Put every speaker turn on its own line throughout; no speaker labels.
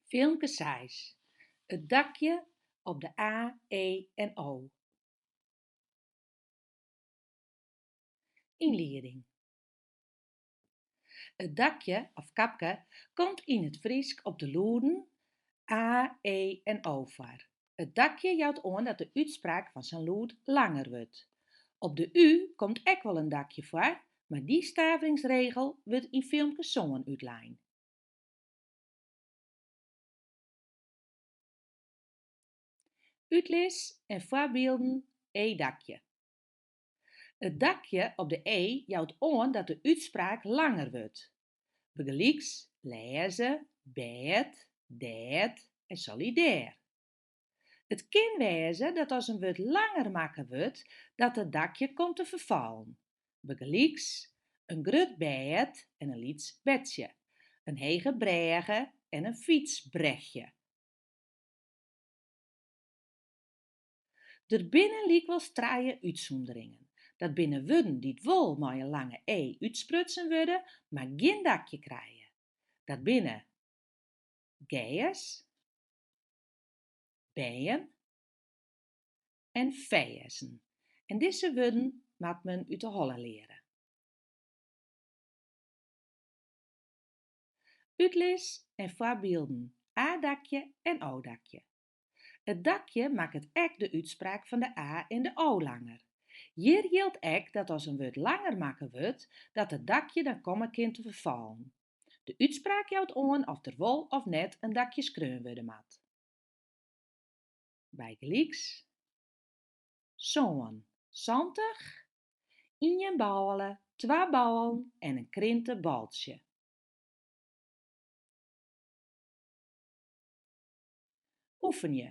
Filmke seis, It dakje op de A, E en O. Ynlieding. It dakje of kapke komt yn it Frysk op de lûden a, e en o foar. It dakje jout oan dat de útspraak fan sa'n lûd langer wurdt. Op de u komt ek wol in dakje foar, mar dy staveringsregel wurdt yn Filmke sân útlein. Utlis en foarbylden E-dakje. It dakje op de e jout oan dat de útspraak langer wurdt. Bygelyks lêze, bêd, dêr en solidêr. It kin wêze dat as in wurd langer makke wurdt, dat it dakje komt te ferfallen. Bygelyks, in grut bêd en in lyts bedsje, in hege brêge en in fytsbrechje. Der binne lykwols trije útsûnderingen. Dat binne wurden dy't wol mei in lange e útsprutsen wurde, mar gjin dakje krije. Dat binne, gers, bern en ferzen. En dizze wurden moat men út de holle leare. Utlis en foarbylden, A-dakje en O-dakje. It dakje makket ek de útspraak fan de a en de o langer. Hjir jildt ek dat as in wurd langer makke wurdt, dat it dakje dan komme kin te ferfallen. De útspraak jout oan oft der wol of net in dakje skreaun wurde moat. Bygelyks, sân, santich, ien bôle, twa bôlen en in krinteboltsje. Oefenje.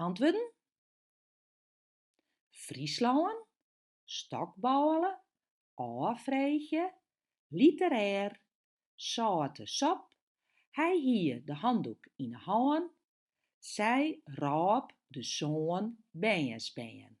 Antwurden? Fryslân, stokbôle, ôffreegje, literêr, sâlte sop, hy hie de handoek yn 'e hân, sy rôp de sân bernsbern.